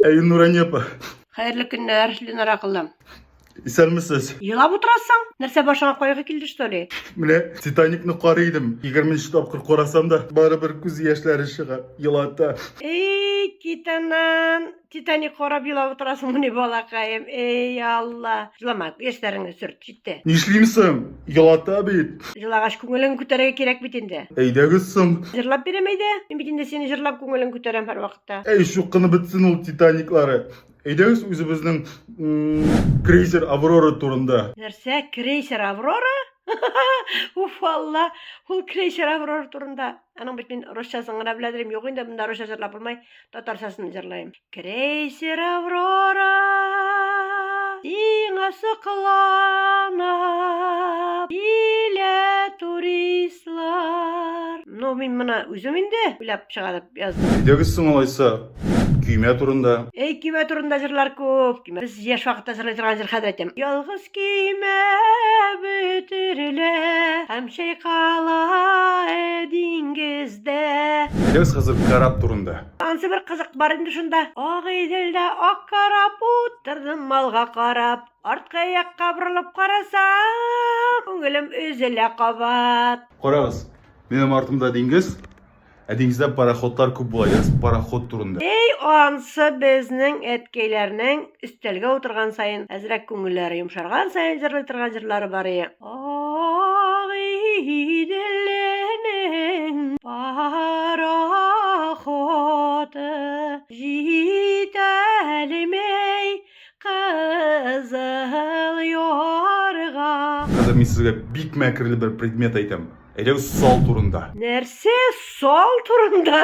Әй, Нурания апа. Хәерле көннәр, Ленара кызым. Исәнмесез. Елап утырасың? Нәрсә башыңа кайгы килде что ли? Менә Титаникны карый идем. 20 нче тапкыр карасам да, барыбер күз яшьләре чыга, елата. Эй, титанан, Титаник карап елап утырасыңмыни, балакаем? Эй, Алла. Җылама, яшьләреңне сөрт, җитте. Нишлим соң? Елата бит. Җылагач, күңелең күтәрергә кирәк бит инде. Әйдәгез соң. Җырлап бирәм әйдә. Мин бит инде сине җырлап күңелең күтәрәм һәрвакытта. Әй, чукынып бетсен ул Титаниклары. Әйдәгез үзебезнең крейсер Аврора турында. Нәрсә, крейсер Аврора? Уф, Алла, ул крейсер Аврора турында. Аның бит мин русчасын гына беләдерим. Юк инде монда русча җырлап булмай. Татарчасын җырлыйм. Крейсер Аврора сиңа соклана килә туристлар. Ну, мин моны үзем инде уйлап чыгарып яздым. Әйдәгез соң алайса Көймә турында. Эй, көймә турында җырлар күп. Көймә. Без яшь вакытта җырлый торган җыр хәзер әйтәм. Ялгыз көймә бөтерелә. Һәм чайкала диңгездә. Әйдәгез хәзер кораб турында. Ансы бер кызык бар инде шунда. Ак Иделдә ак кораб. Утырдым малга карап. Арткы якка борылып карасам. Күңелем өзелә кабат. Карагыз, минем артымда диңгез. Ә диңгездә пароходлар күп була, яз пароход турында. Әй, ансы безнең әткәйләрнең өстәлгә утырган саен әзрәк күңелләре йомшарган саен җырлый торган җырлары бар ие. Ак Иделнең пароходы җитәлми Кызыл ярга. Хәзер мин сезгә бик мәкерле бер предмет әйтәм. Әйдәгез сал турында. Нәрсә сал турында?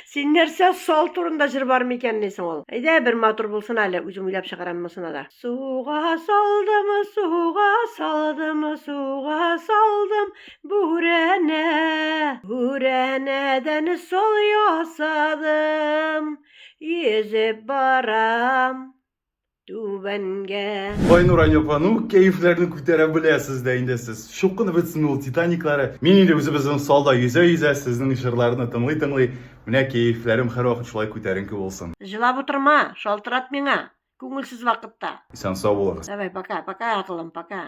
Син нәрсә сал турында җыр бар микән ни соң ул? Әйдә бер матур булсын әле, үзем уйлап чыгарам монысына да. Суга салдымы, суга салдымы, суга салдым бүрәнә. Бүрәнәдән сал ясадым. Йөзеп барам түбәнгә. Айнур Анёпа, ну кәефләрне күтәрә беләсез дә инде сез. Чукынып бетсен ул Титаниклары. Мин инде үзебезнең салда йөзә-йөзә сезнең җырларны тыңлый-тыңлый, менә кәефләрем һәрвакыт шулай күтәренке булсын. Җылап утырма, шалтырат миңа, күңелсез вакытта. Исән-сау булыгыз. Давай, пока, пока, акылым, пока.